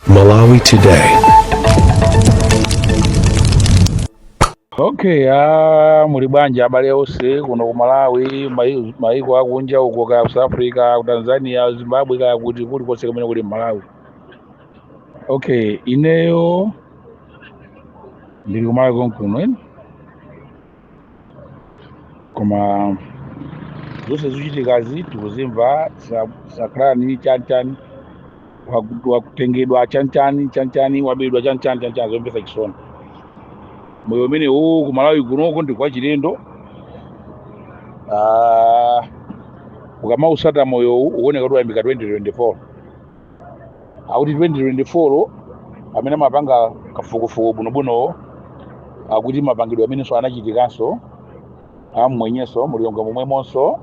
Malawi Today. okay ah, muli bwanji abale onse kuno ku malawi mai- maiko akunja uko kaya ku south africa ku tanzania ku zimbabwe kaya kuti kulikonse kumene kuli mmalawi okay ineyo ndili kumalawi konkuno eni koma zonse zochitikazi tikuzimva zakuti chanchani waku- wakutengedwa chanchani chanchani wabedwa chanchani chanchani zomvetsa chisoni moyo umene uwu ku malawi kunoko ndi wachilendo Ah, ukamausata moyowu uwoneka kuti wayambika 2024 akuti 2024 amene amapanga kafukufuku bwinobwino akuti mapangidwe amenenso anachitikanso mmwenyenso mu Lilongwe momwemonso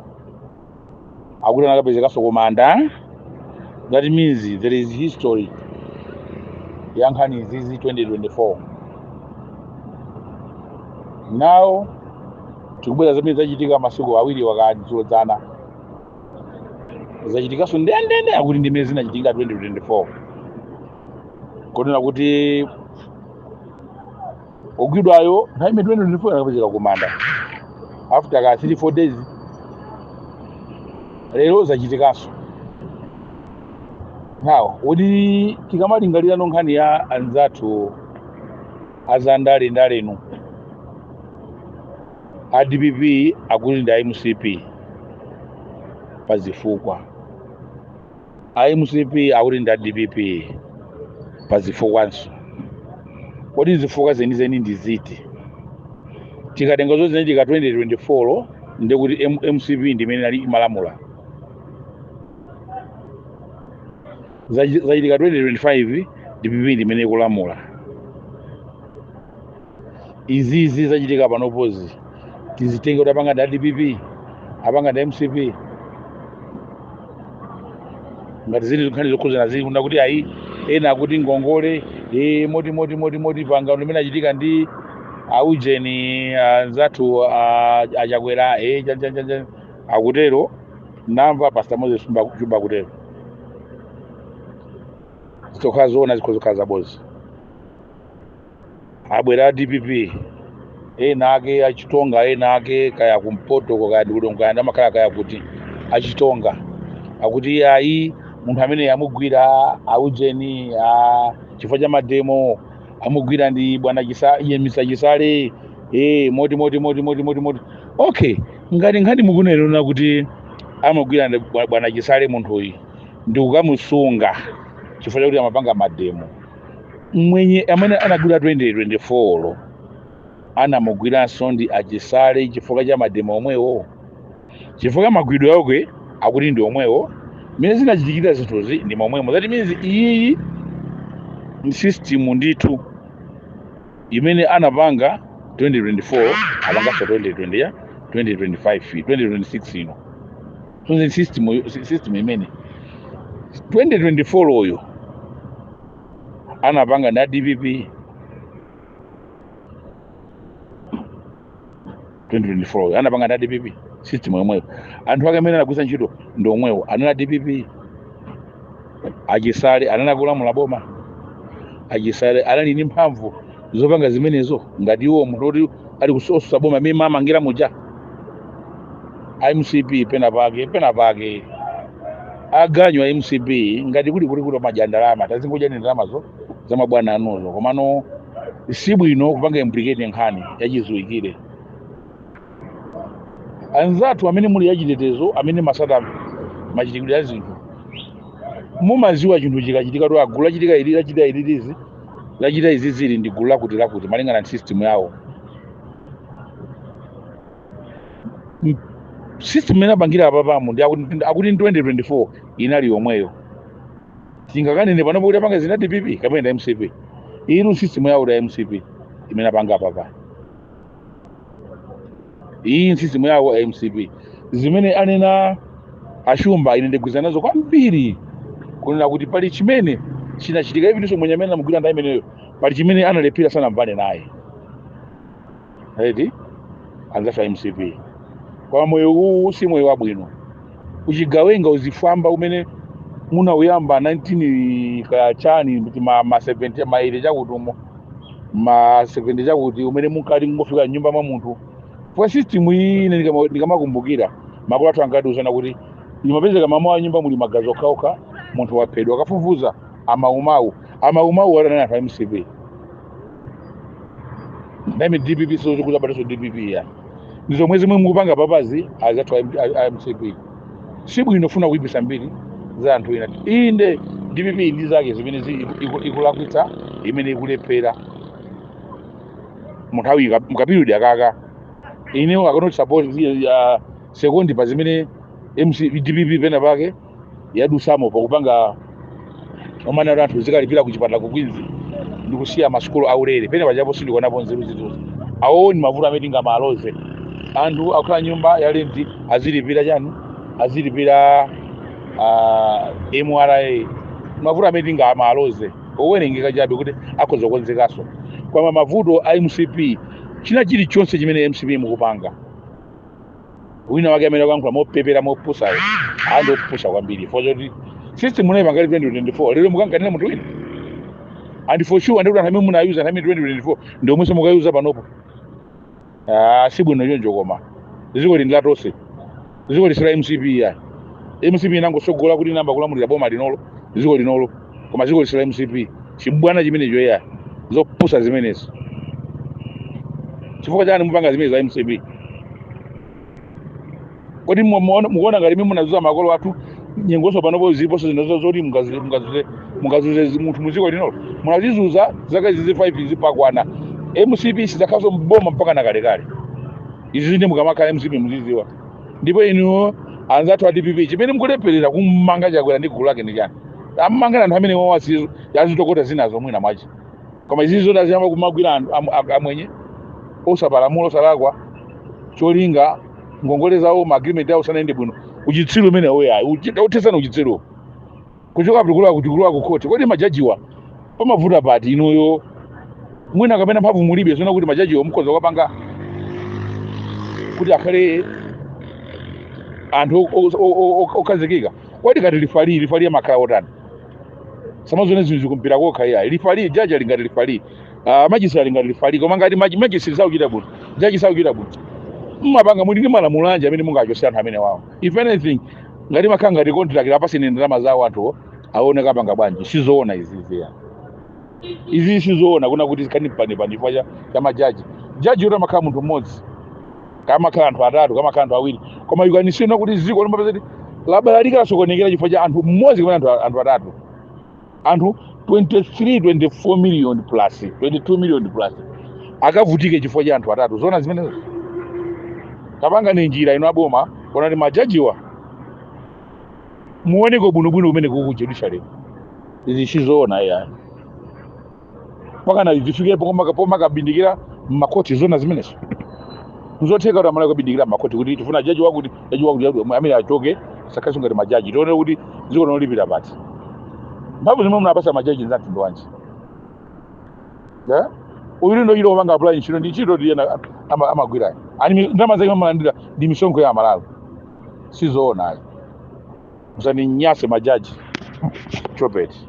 akuti anakapezekanso kumanda that means there is history ya nkhani izizi 2024 now tikubwera zimene zachitika masiku awiri wakadzulo dzana zachitikanso ndendende akuti ndi mmene zinachitikira 2024 kunena kuti ogwidwayo nthawi imene 2024 anakapezeka kumanda after ka 3 4 days lero zachitikanso now kuti tikamalingalira ano nkhani ya anzathu azandale ndalenu a dpp akuti ndi a mcp pa zifukwa a mcp akuti ndi a dpp pa zifukwanso kodi zifukwa zenizeni ndi ziti tikatenga zozinachitika 2024 ndi kuti M- mcp ndi imene inali imalamula Zachi- zachitika 2025 dpp ndi imene ikulamula izizi zachitika panopozi tizitenge kuti apanga ndi adpp apanga ndi mcp ngati zili zifukwa zokhuzana zina kuti ayi ena akuti ngongole e, moti moti moti moti pangano limene anachita ndi aujeni anzathu a- achakwera e, cha- cha- cha- cha- akutero namva pastor moses Shumba- Shumba akutero zikhoza kukhala zoona zikhoza kukhala zabodza abwera a dpp ena ake achitonga ena ake kaya kumpotoko kaya ndikudongo kaya ndamakhala kaya kuti achitonga akuti iye ayi munthu amene amugwira aujeni a chifukwa cha mademo amugwira ndi bwana chisa iye mister chisale eh moti moti okay ngati nkhani mukunena kuti amugwira ndi bwa- bwana chisale munthuyi ndikukamusunga chifukwa chakuti amapanga mademo mmwenye amene anagwira 2024 anamugwiranso ndi achisale chifukwa cha mademo omwewo chifukwa magwidwe ake akuti ndi omwewo mmene zinachitikira zinthuzi ndi momwemo that means iyiyi ndi system ndithu imene anapanga 2024 apanganso 2020 ya 2025 2026 ino so system yo- si- system imene 2024 oyo anapanga ndi a dpp 2024 oyo anapanga ndi a dpp system yomweyo anthu ake amene anagwiritsa ntchito ndi omwewo anali a dpp achisale anali akulamula boma achisale anali ndi mphamvu zopanga zimenezo ngati iwo munthu woti ali kutsutsa boma mmene mmamangira muja mcp pena pake pena pake aganyu a mcp ngati kuli kuti kuti mmadya ndalama tazingodyani ndalamazo za mabwana anuzo komano si bwino kupanga implicate nkhani yachidziwikire anzathu amene muli achitetezo amene mumatsata machitidwe a zinthu mumadziwa chinthu chikachitika kuti gulu lachitika ili lachita ili lizi lachita izi ili ndi gulu lakuti lakuti malingana ndi system yawo system imene apangira apapa ndi akuti akuti ndi 2024 inali yomweyo tingakanene panopo kuti apanga zi ndi a dpp kapena mcp iyi system yawo ya mcp imene apanga apapa iyi ndi system yawo a mcp zimene anena achumba ine ndikugwirizana nazo kwambiri kunena kuti pali chimene chinachitika even so mwenye amene anamugwira nthawi imeneyo pali chimene analephera sanamvane naye eti anzafe a mcp koma moyo uwu si moyo wabwino uchigawenga uzifwamba umene munauyamba 19 kaya chani kuti ma ma 70 ma 80 chakuti umo ma 70 chakuti mmene munkati mungofika mnyumba mwa munthu kwa system iyi ine ndikama- ndikamakumbukira makolo athu ankatiuza kuti imapezeka mmamawa mnyumba muli magazi okhaokha munthu waphedwa akafufuza amaumawu amaumawu atani anthu a mcp name dpp so chikuti abatiso dpp ya ndi zomwe zimwe mukupanga papazi azathu a M- a- a mcp si bwino kufuna kuipisa mbiri za anthu ena inde dpp ndi zake zimene zi- iku- iku- ikulakwitsa imene ikulephera munthawi ika- mukapiriyodi kakaka ineyo I cannot support ya sekondi pa zimene MC, dpp pena pake yadusamo pakupanga zomanena kuti anthu azikalipira ku chipatala ku Queens ndi kusiya masukulu aulere pena pajapo sindikuonapo nzeru zinthuzo awowo ndi mavuto amene tingamaloze anthu akukhala nyumba ya lenti azilipira chani azilipira ah, mra mavuto amene tingamaloze owerengeka chabe kuti akhoza kukonzekanso koma mavuto a mcp china chilichonse chimene mcp mukupanga wina wake amene akuyankhula mopepera mopusayo ndi opusa kwambiri chifukwa choti system munayipanga 2024 lero mukanganira munthu wina and for sure ndikuti anthu amene munayuza nthawi 2024 ndi omwenso mukuyuza panopo Ah, si bwino choncho koma dziko ili ndi latonse dziko ili si la mcp ya mcp inangosogola kuti inayamba kulamulira boma linolo dziko linolo koma dziko ili si la mcp chibwana chimenecho eya zopusa zimenezo chifukwa chani mupanga zimene za mcp kodi mu- muona- mukuona ngati mmene munazuza makolo athu nyengonso panopo ziliponso zinazo zoti mungazuze- mungazuze- mungazuze munthu muziko linolo munazizuza zaka izizi 5 izi pakwana mcp sizakhalaso mboma mpaka na kalekale izizi nde mukamakhala mcp muziziwa ndipo inuyo anzathu a dpp chimene mukulepherera kummanga chakwera ndi gulu lake ndi chani ammanga anthu amenewawo asi- azitokota zinazo mwina mwache koma izizi zoti aziyamba kumagwira anthu am- am- amwenye osapalamula osalakwa cholinga ngongole zawo maagreement awo sanayende bwino uchitsiru umenewo ayi uthetseni uchitsiruwo kuchoka kulikulu akuti kulikulu akukhoti kodi majajiwa pamavuta pati inuyo mwina kapena mphamvu mulibe zona kuti majajiwa mukhoza kupanga kuti akhale anthu o- o- o- o- o- okhazikika kodi ngati lifali lifali amakhala otani samazone zinthuzi kumpira kokha iya lifali jaji ali ngati lifali ah, majisi ali ngati lifali koma ngati maji- majisi sakuchita bwino jaji sakuchita bwino mmapanga muli ndi malamulo anji amene mungachosere anthu amenewawo if anything ngati amakhala ngati contract apaseni ndalama zawo anthu aone kapanga bwanji sizoona izizi ya izi sizoona kunena kuti kani pane pane chifukwa cha- cha majaji jaji yoti amakhala munthu mmodzi kamakhala anthu atatu kamakhala anthu awiri koma you can see now kuti ziko lomapeza kuti labalalika lasokonekera chifukwa cha anthu mmodzi kapena anthu anthu atatu anthu 23 24 million plus 22 million plus akavutike chifukwa cha anthu atatu zona zimenezo tapangani njira ina aboma onani majajiwa muoneko bwinobwino kumeneku ku judiciary izi sizoona yayi mpaka na zifikepo koma kapoma kabindikira mmakhoti zona zimenezo nzotheka kuti amalawi kabindikira mmakhoti kuti tifuna jaji wakuti jaji wakuti jaji wakuti, amene achoke sakhalinso ngati majaji tione kuti dziko linolipira pati mphamvu zimene munapasa majaji nzamtundu wanji Eh? uyu ndi ntchito yopanga apply ntchito ndi ntchito ndiye ena ama- amagwirayo ani mi- ndalama zake amalandira ndi misonkho ya amalawi sizoonayo musaninyase majaji chopeti